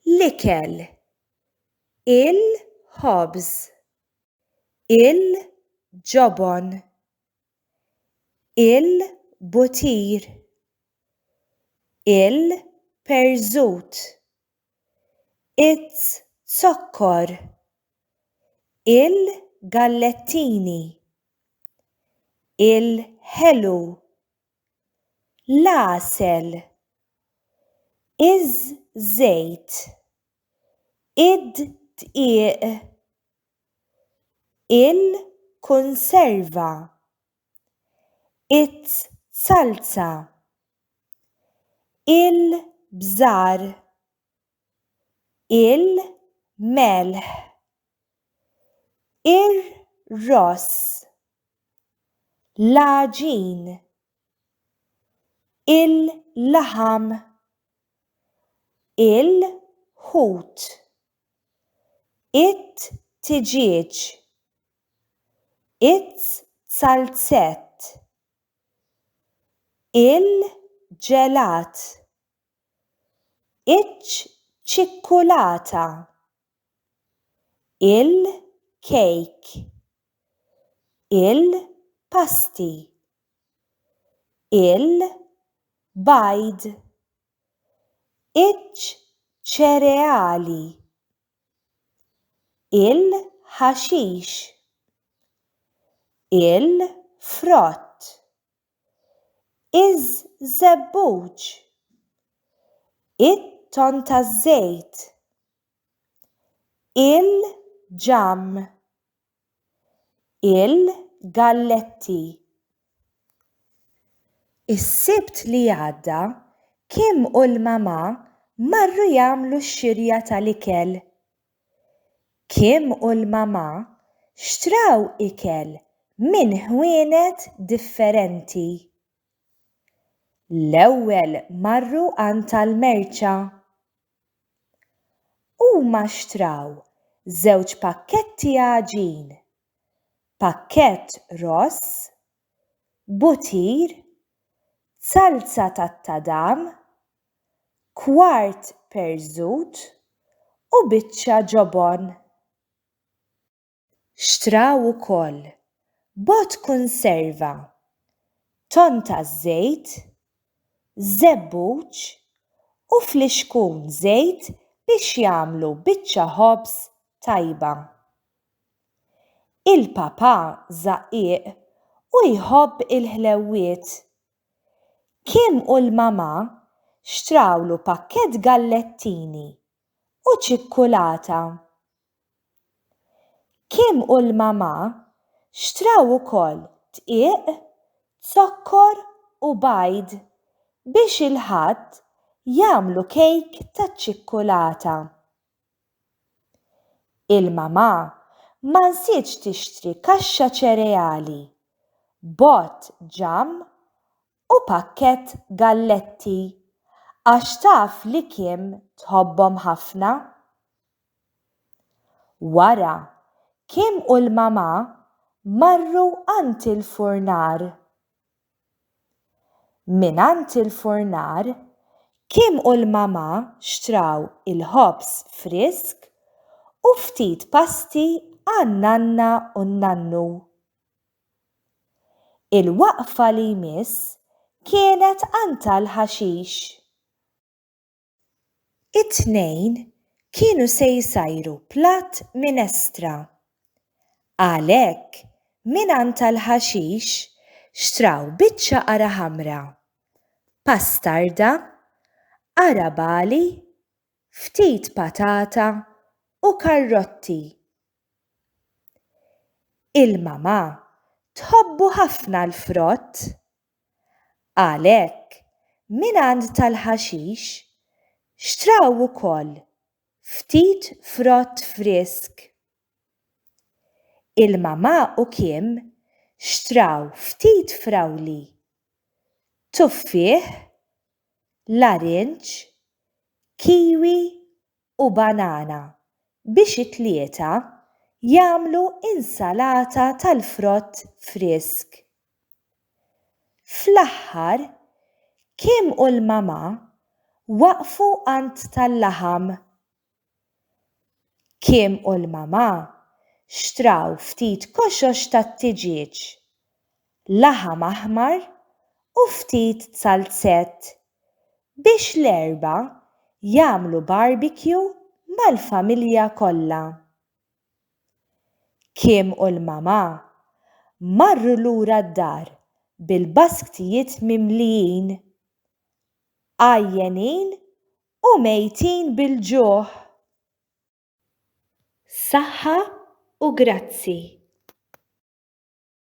L-ikel. Il-ħobż. Il-ġobon. Il-butir. Il-perżut. Iz-zokkor. Il-gallettini. Il-ħelu. l-għasel, iż-żejt, id-dqiq, il-kunserva, iz-zalza, il-bżar, il-melħ, ir-ross, l-għaġin, il-laħam, il-ħut, it-tiġieġ, iz-zalzett, il-ġelat. iċ-ċikkulata, il-kejk, il-pasti, il-bajd, iċ-ċereali, il-ħaxix, il-frott. iż-żebbuġ, it-ton taż-żejt, il-ġamm, il-galletti. Is-Sibt li għadda, Kim u l-mamà marru jagħmlu x-xirja tal-ikel. Kim u l-mamà xtraw ikel minn ħwienet differenti. L-ewwel marru għand tal-merċa. Huma xtraw żewġ pakketti għaġin, pakkett ross, butir, zalza tat-tadam, kwart perżut u biċċa ġobon. Xtraw ukoll bogħod kunserva, tonn taż-żejt, żebbuġ u flixkun żejt biex jagħmlu biċċa ħobż tajba. Il-papà żaqqiq u jħobb il-ħlewwiet. Kim u l-mamà xtrawlu pakkett gallettini u ċikkulata. Kim u l-mamà xtraw ukoll dqiq, zokkor u bajd biex il-Ħadd jagħmlu kejk taċ-ċikkulata. Il-mamà ma nsietx tixtri kaxxa ċereali, bott ġamm u pakkett galletti għax taf li Kim tħobbhom ħafna. Wara, Kim u l-mamà marru għand il-furnar. Mingħand il-furnar, Kim u l-mamà xtraw il-ħobż frisk u ftit pasti għan-nanna u n-nannu. Il-waqfa li jmiss kienet għand tal-ħaxix. It-tnejn kienu se jsajru platt minestra. Għalhekk, mingħand tal-ħaxix xtraw biċċa qara ħamra, pastarda, qara bagħli, ftit patata u karrotti. Il-mamà tħobbu ħafna l-frott Għalhekk, mingħand tal-ħaxix, xtraw ukoll ftit frott frisk. Il-Mamà u Kim xtraw ftit frawli, tuffieħ, larinġ, kiwi u banana biex it-tlieta jagħmlu insalata tal-frott frisk. Fl-aħħar, Kim u l-mamà waqfu għand tal-laħam. Kim u l-mamà xtraw ftit koxox tat-tiġieġ laħam aħmar u ftit zalzett biex l-erbgħa jagħmlu barbecue mal-familja kollha. Kim u l-mamà marru lura d-dar bil-basktijiet mimlijin, għajjenin u mejtin bil-ġuħ. Saħħa u grazzi.